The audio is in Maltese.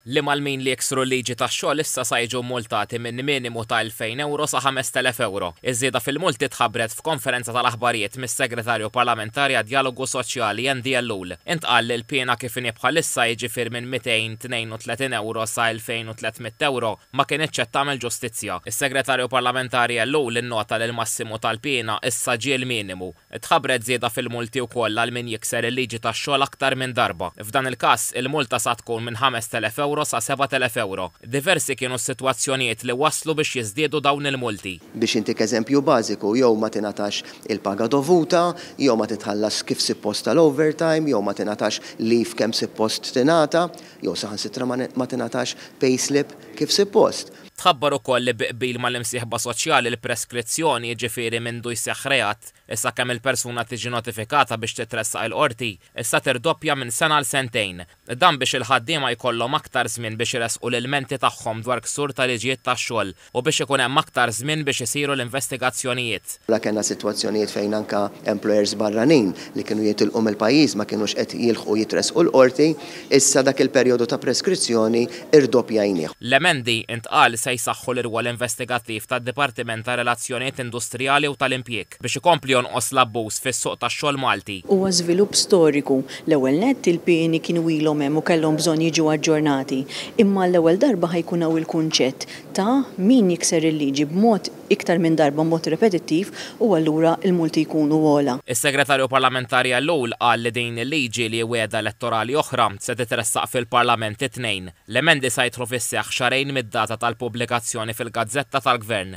li Malmin li jiksru l-liġi tax-xogħol issa sa jiġu mmultati minn minimu ta' 2,000 ewro sa 5,000 ewro. Iż-żieda fil-multi tħabbret f'konferenza tal-aħbarijiet mis-Segretarju Parlamentari għad-Djalogu Soċjali Andy Ellul. Intqal li l-piena kif inhi bħalissa jiġifier minn 232 ewro sa 2,300 ewro ma kinitx qed tagħmel ġustizzja. Is-Segretarju Parlamentari Ellul innota li l-massimu tal-piena issa ġie l-minimu. Tħabbret żieda fil-multi wkoll għal min jikser il-liġi tax-xogħol aktar minn darba. F'dan il-każ, il-multa sa tkun minn 5,000 ewro sa 7,000 ewro. Diversi kienu s-sitwazzjonijiet li wasslu biex jiżdiedu dawn il-multi. Biex intik eżempju bażiku, jew ma tingħatax il-paga dovuta, jew ma titħallasx kif sippost tal-overtime, jew ma tingħatax leave kemm sippost tingħata, jew saħansitra ma tingħatax payslip kif sippost. Tħabbar ukoll li bi qbil mal-imsieħba soċjali l-preskrizzjoni, jiġifieri mindu jseħħ reat is sakemm il-persuna tiġi notifikata biex titressaq il-qorti, issa tirdoppja minn sena għal sentejn. Dan biex il-ħaddiema jkollhom aktar żmien biex iressqu l-ilmenti tagħhom dwar ksur ta' liġijiet tax-xogħol u biex ikun hemm aktar żmien biex isiru l-investigazzjonijiet. Mela kellna sitwazzjonijiet fejn anke employers barranin li kienu jitilqu mill-pajjiż ma kinux qed jilħqu jitressqu l-qorti. Issa dak il-perjodu ta' preskrizzjoni rdoppjajnieh. L-emendi, intqal, se jsaħħu l-irwol investigattiv tad-Dipartiment ta' Relazzjonijiet Industrijali u tal-Impjieg biex ikompli jonqos l-abbuż fis-suq tax-xogħol Malti. Huwa żvilupp storiku. L-ewwel nett, il-pieni kienu ilhom hemm u kellhom bżonn jiġu aġġornati. Imma għall-ewwel darba ħa jkun hawn il-kunċett ta' min jikser il-liġi b'mod iktar minn darba b'mod repetittiv u allura l-multi jkunu ogħla. Is-Segretarju Parlamentari Ellul qal li din il-liġi li wegħda elettorali oħra se titressaq fil-Parlament it-Tnejn. L-emendi sa jidħlu fis-seħħ xahrejn mid-data tal-pubblikazzjoni fil-gazzetta tal-Gvern.